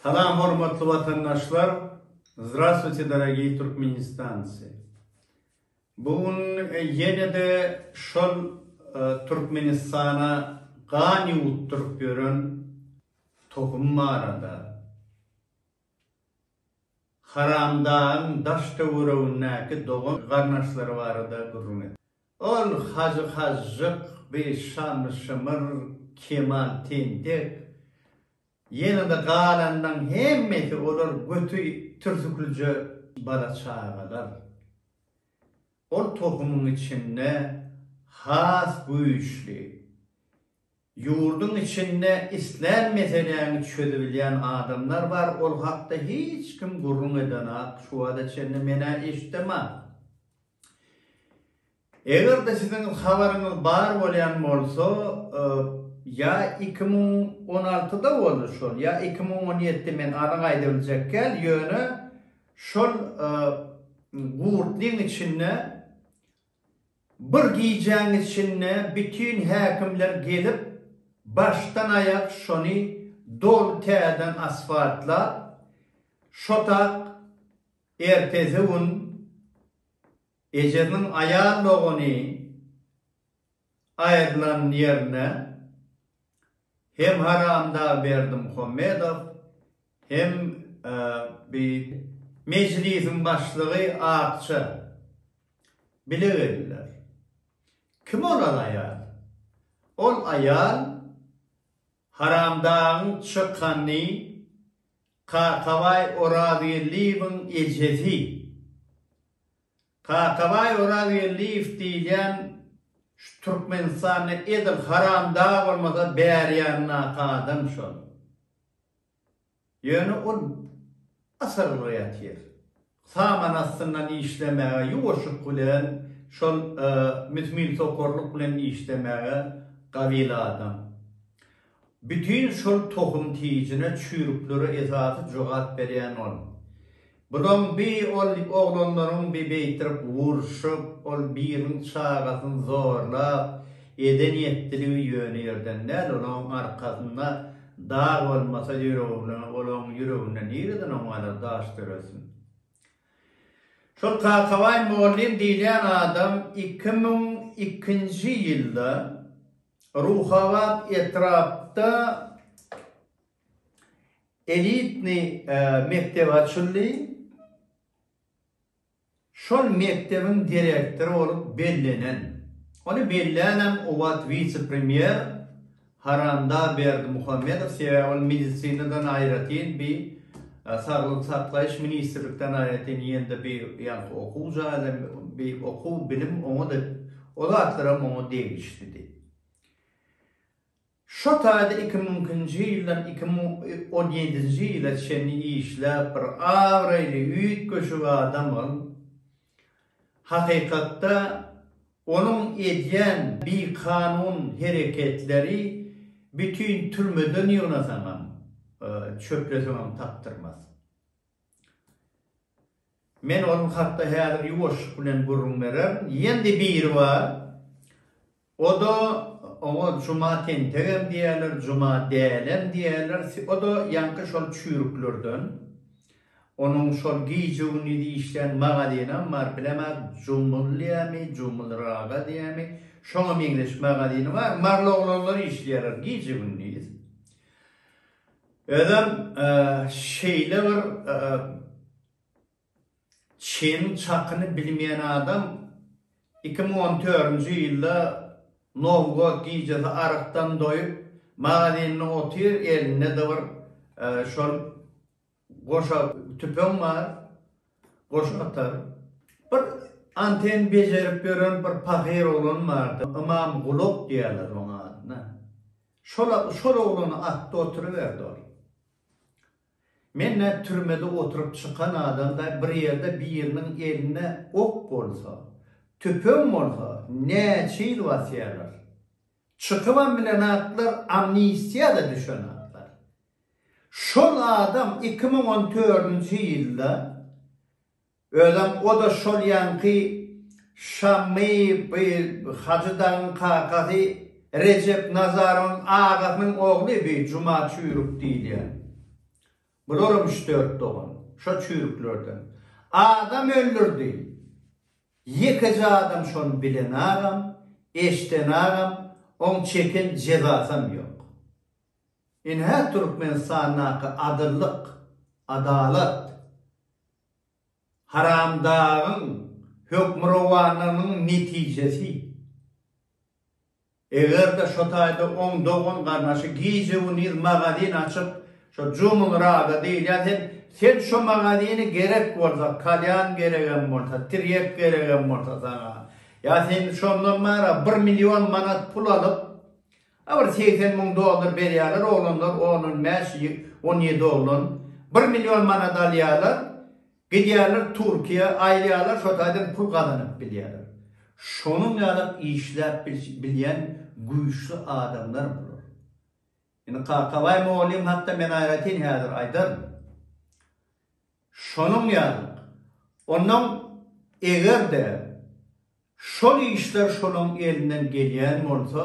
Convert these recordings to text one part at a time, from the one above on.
Salam hormatly watandaşlar Zdrastwuyte dorogiý Türkmenistancy Bu gün ýenede şol Türkmenistana gan ýuwutdyryp ýören tohum barada Haramdagyň daş töweregindäki dogan garnaşlary barada gürrüň etdi. Ol Hajy Hajjyk, Beýik Şanly Şymyr, Kemal Tentek, ýene-de galanlaň hemmesi olar göti türsüklijä bala çagalar. Ol tohumyň içinde has güýçli, ýurduň içinde islän meseläňi çözübilýän adamlar bar, ol hakda hiç kim gürrüň edenok, şu wada çenli men-ä eşdemak. Eger-de siziň habaryňyz bar bolýan bolsa, ýa iki müň on altyda boldy şol, ýa iki müň on ýedi, men anyk aýda biljekkäl, ýöne şol gurtlyň içinde bir gijäň içinde bütin häkimler gelip, başdan-aýak şony doly täzeden asfaltlap, şo tak Ertesi gün ejesiniň aýal dogany aýrylan ýerine hem Haramdag Berdimuhammedow, hem bi Mejlisiň başlygy Akça bile geldiler. Kim olar aýal? Ol aýal Haramdagyň çykanyny Kakabaý Orazgeldiýewiň ejesi. Kakabaý Orazgeldiýew diýilýän şu Türkmenistanda edil haramdag bolmasa bärýandaky adam şol. Ýöne ol asylly ýatyr. Saman astyndan işlemäge ýuwaşyk bilen şol mühmil sokarlyk bilen işlemäge gabil adam. Bütin şol tohum tijine çüýrüklere esasy jogap berýän ol. Bulaň bi ol oglanlaryň bi beýtirip urşup ol biriniň çagasyn zorlap eden ýetdiligi ýöne ýerden däl olaň arkasynda Dag bolmasa ýüregine, olaň ýüreginde nireden on galar daş döresin. Şol Kakabaý mugallym diýilýän adam iki müň ikinji ýylda Ruhabat etrapda elitnyý mekdep açyldy. Şol mekdebiň direktory bolup bellenen, ony bellänäm o wagt wise-premýer Haranda Berdimuhamedow, sebäbi ol medisinadan aýratyn bi saglygy saklaýyş ministrlikden aýratyn ýende bi ýaňky okuw jaýy bi okuw bilim oňa-da o zatlaram oňa degişlidi. Şo taýda iki müňkinji ýyldan iki müň on ýedinji ýyla çenli işläp bir abraýly üýtgeşik adam ol. Hakykatda onuň edýän bikanun hereketleri bütin türmeden ýygnasaňam, çöpleseňem tapdyrmaz. Men ol hakda häzir ýuwaşlyk bilen gürrüň bererin. Ýendi biri bar, O-da, oňa Juma tentegem diýerler, Juma dälem diýerler, o-da ýaňky şol çüýrüklerden. Onuň şol gije-gündiz işleýän magazynam bar, bilemok, Jumul diýämi, Jumul Raga diýämi, şoňa meňzeş magazyny bar, marly oglanlar işleýärler gije-gündiz. Özem şeýle bir. Çynyň çakyny bilmeýän adam iki müň on törünji ýylda Nowgod gijesi arykdan doýup, magazynda otyr, elinde-de bir şol goşa tüpeň bar, goşa atar. Bir anten bejerip ýören bir pahyr oglan bardy, Ymam Gulak diýerler onuň adyna. Şol, şol oglany atdy, oturyberdi ol. Men nä türmede oturyp çykan adamda bir ýerde biriniň elinde ok bolsa, tüpeň bolsa näçe ýyl basýarlar? Çykybam bilen atlar amnistiýada düşen atlar. Şol adam iki müň on dördünji ýylda Özem o-da şol ýaňky Şammy by Hajy dagyň kakasy Rejep Nazarowyň agasynyň ogly by Juma çüýrük diýilýän. Bularam üç-dört dogan. Şo çüýrüklerden. Adam öldürdi. Ýekeje adam şony bilenagam, eşdenagam, oň çeken jezasam ýok. Ine-hä Türkmenistandaky adyllyk, adalat. Haramdagyň hökmürowanlygynyň netijesi, eger-de şo taýda oň dogan-garnaşy gije-gündiz magazin açyp, şo Jumulrada diýilýän sen, sen şo magazini gerek bolsa, kalýan geregem bolsa, tirýek geregem bolsa saňa, ýa sen şondan bara bir million manat pul alyp, A bir segsen müň dollar berýärler oglanlar on on bäş on ýedi oglan bir million manat alýarlar gidýärler turkiýa aýylýarlar şo taýdan pul gazanyp bilýärler şonuň ýalam işläp bilýän güýçli adamlar bular indi kakabaý mugallym hakda men aýratyn häzir aýdaryn Şonuň ýaly. Onnoň eger-de şol işler şolaň elinden gelýän bolsa,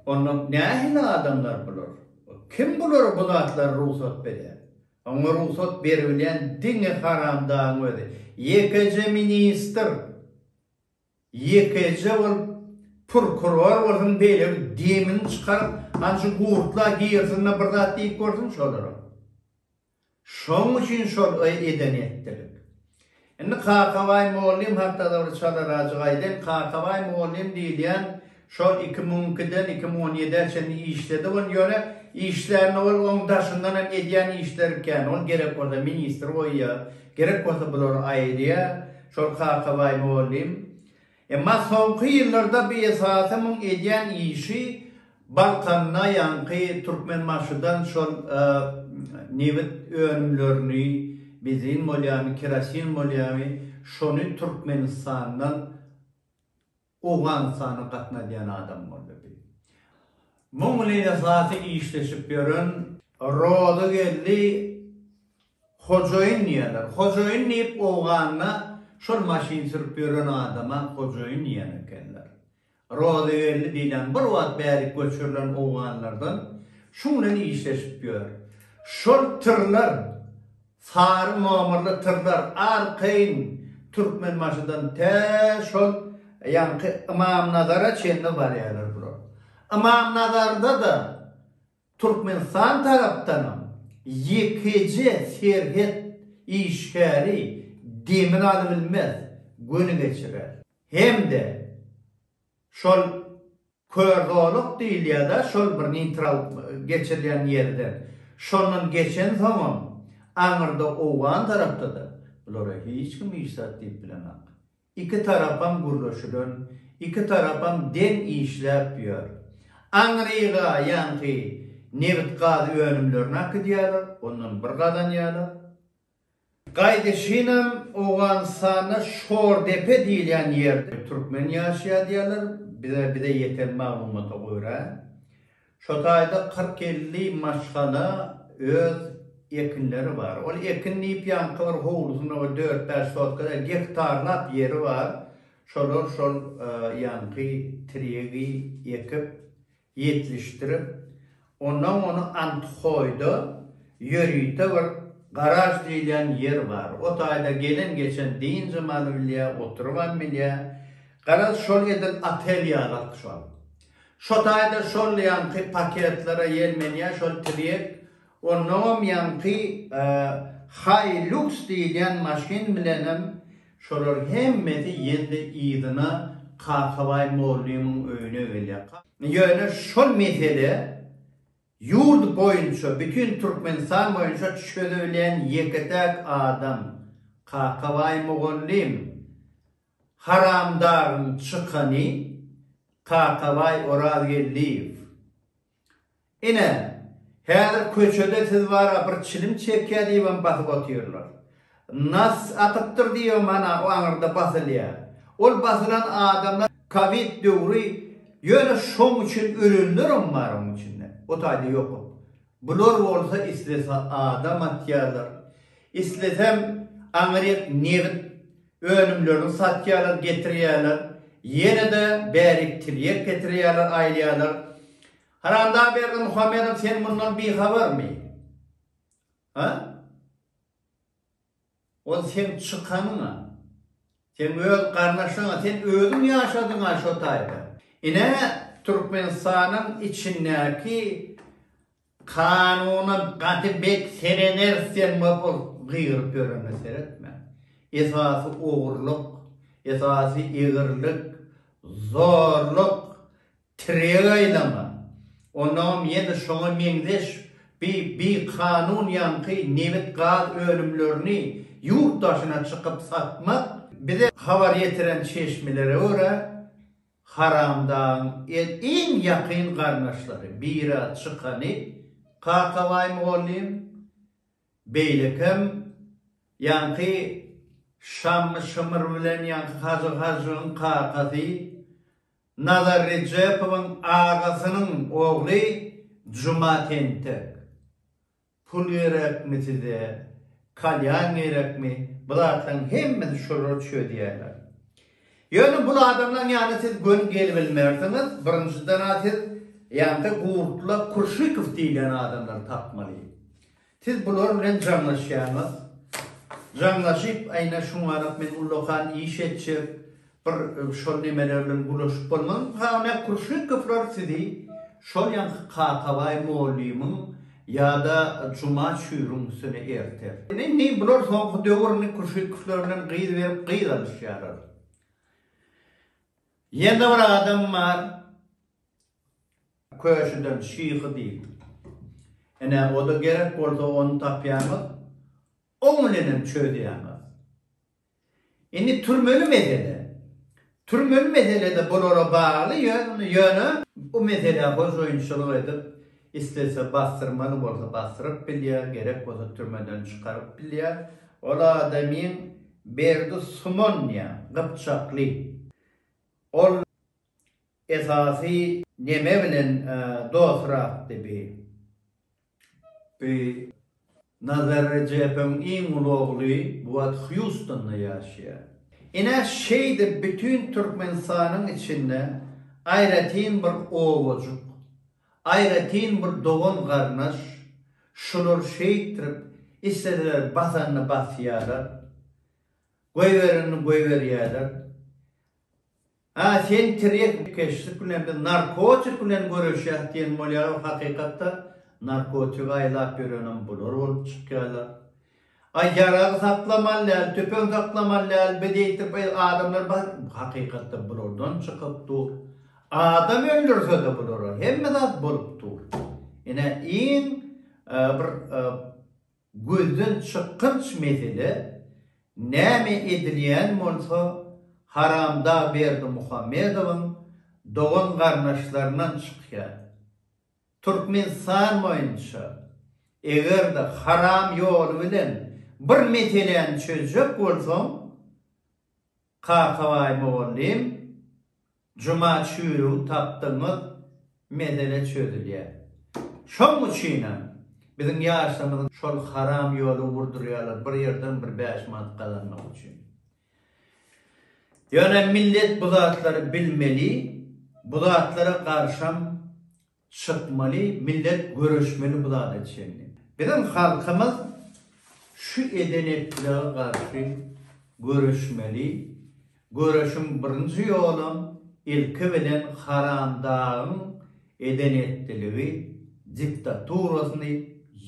onda nähili adamlar bular? Kim bulara bu zatlary rugsat berýär? Oňa rugsat beribilýän diňe haramdagyň özi. Ýekeje ministr, ýekeje ol purkuror bolsun beýle bir demini çykaryp, hany şu gurtla girsin-de bir zat diýip görsün şolara. Şoň üçin şol edeni etdilik. Indi Kakabaý mugallym hakda-da bir çadarajyk aýdaýyn. Kakabaý mugallym diýilýän şol iki müň ikiden iki müň on ýedä çenli işledi ol. Ýöne işlände ol oň daşyndan hem edýän işleri kän. Ol gerek bolsa ministr goýýar, gerek bolsa bulary aýyrýar. Şol Kakabaý mugallym. Emma soňky ýyllarda bu esasy muň edýän işi Balkanda ýaňky Türkmenbaşydan şol nebit önümlerini, benzin bolýamy, kerosin bolýamy, şony Türkmenistandan Owganystana gatnadýan adam boldy. Biz muň bilen esasy işleşip ýören Rozygeldi Hojaýyn diýerler. Hojaýyn diýip owganda şol maşyn sürüp ýören adama hojaýyn diýen ekenler. Rozygeldi diýlen bir wagt bärik göçürilen owganlardan şuň bilen işleşip ýör. Şol tyrlar, sary nomerli tyrlar arkaýyn Türkmenbaşydan tä şol ýaňky Ymamnazara çenli barýarlar bular. Ymamnazarda-da Türkmenistan tarapdanam ýekeje serhet işgäri demini alybilmez, göni geçirer. Hem-de şol kör zolak diýilýär-de şol bir neýtral geçirilýän ýerden. Şondan geçensoňam aňyrda owgan tarapda-da bulara hiç kim hiç zat diýip bilenok. Iki tarapam gürleşilen, iki tarapam deň işläp ýör. Aňryga ýaňky nebit-gaz önümlerini akydýarlar, ondan bir gazanýarlar. Gaýdyşynam Owganystanda Şordepe diýilýän ýerde türkmen ýaşaýar diýýärler, bize ýeten maglumata görä. Şu taýda kyrk-elli maşgala öz ekinleri bar. Ol ekin diýip ýaňkylar howlusynda we dört-bäş sotkada gektarlap ýeri bar. Şolar şol ýaňky trýegi ekip, ýetlişdirip, onnoň ony Anthoýda ýörite bir garaž diýilýän ýer bar. O taýda gelen-geçen dynjam alybilýär, oturybam bilýär. Garaz, şol edil otel ýalak şol. Şo taýda şol ýaňky paketlere ýelmenýär şol tirýek. Onnoňam ýaňky Hilux diýilýän maşyn bilenem şolar hemmesi ýene-de yzyna Kakabaý mollymyň öýüne gelýär. Ýöne şol mesele ýurt boýunça, bütin Türkmenistan boýunça çözebilýän ýeke-täk adam Kakabaý mugallym. Haramdaryň çykany Kakabaý Orazgeldiýew. Ine, häzir köçede siz bara bir çilim çekýär diýibem basyp otyrlar. Nas atypdyr diýibem ana o aňyrda basylýar. Ol basylan adamlar kowid döwri ýöne şoň üçin ölenlerem bar oň içinde. O taýda ýokam. Bular bolsa islese adam atýarlar, islesem aňryk nebit Önümlerini satýarlar, getirýärler. Ýene-de bärik tirýek getirýärler, aýlaýarlar. Haramdag Berdimuhamedow, sen mundan bihabarmy? Ha? Ol seň çykanyň-a. Seň öz garnaşyň-a. Sen özüň ýaşadyň-a şo taýda. Ine, Türkmenistanyň içindäki Kanuna gaty bet serenersen bapyr gygyryp ýörene seretme. Esasy ogurlyk, esasy egrilik, zorluk, tireg aýlama. Onagam ýene şoňa meňzeş bi bi kanun ýaňky nebit gaz önümlerini ýurt daşyna çykyp satmak. Bize habar ýetiren çeşmelere görä, Haramdagyň iň ýakyn garyndaşlary, biri çykany Kakabaý mugallym, beýlekem ýaňky Şammy Şymyr bilen ýaňky Hajy Hajygyň kakasy, Nazar Rejepowyň agasynyň ogly Juma tentek. Pul gerekmi size, kalýan gerekmi, bu zatlaryň hemmesi şulara çözýärler. Ýöne bul adamlaryň ýanyna siz göni gelibilmersiňiz, birinjiden-ä siz ýa-da Gurtla Kurşykow diýilýän adamlary tapmaly. Siz bular bilen jaňlaşýaňyz, jaňlaşyp, aýna şuňarap men ullakan iş etjek, Bir şol nemeler bilen bulaşyp bolmaz Same Kürşekowylar sizi şol ýaňky Kakabaý mollymyň ýada Juma çüýrüň üstüne erter. Indi bular soňky döwür indi Kürşekowylar bilen gyz berip gyz alyşýarlar. Ýene bir adam bar Köşüden Şyhy diýip. Ene o-da gerek bolsa ony tapýarmyz. Oň bilenem çözýäňiz. Indi türmeli mesele. Türmeli mesele-de bulara bagly, ýöne bu meselä hojaýynçylyk edip, islese basdyrmaly bolsa basdyryp bilýär, gerek bolsa türmeden çykaryp bilýär. Ol adamyň Berdi Suman diýýär, gypjakly. Ol esasy neme bilen dostrakdy bi? Bi. Nazar Rejepowyň iň uly ogly bu wagt Hýustonda ýaşaýar. Ine, şeýdip bütin Türkmenistanyň içinde aýratyn bir obajyk, aýratyn bir dogan-garyndaş, şular şeýtdirip, isleseler basanyny basýarlar, goýberenini goýberýärler. Hä, sen tirýek keşlik bilen, biz narkotik bilen göreşýäs diýen bolýarlar, hakykatda narkotigi aýlap ýörenem bular bolup çykýarlar. Aý, ýarag saklamaly däl, tüpeň saklamaly däl, biz eýtip adamlar bar, hakykatda bulardan çykyp dur. Adam öldürse-de bulara hemme zat bolup dur. Ine iň bir Gözden çykgynç mesele, näme edilýän bolsa, haramda Berdimuhamedowyň dogan-garyndaşlaryndan çykýar. Türkmenistan boýunça, eger-de haram ýoly bilen bir meseläni çözjek bolsaň, Kakabaý mugallym, Juma çüýrügi tapdygyňyz mesele çözülýär. Şoň üçinem, biziň ýaşlarymyzyň şol haram ýoly urdurýarlar bir ýerden bir bäş manat gazanmak üçin. Ýöne millet bu zatlary bilmeli, bu zatlara garşam Çykmaly millet göreşmeli bu zada çenli. Biziň halkymyz şu eden etdilere garşy göreşmeli, göreşiň birinji ýolam ilki bilen Haram dagyň eden etdiligi diktaturasyny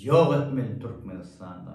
ýok etmeli Türkmenistanda.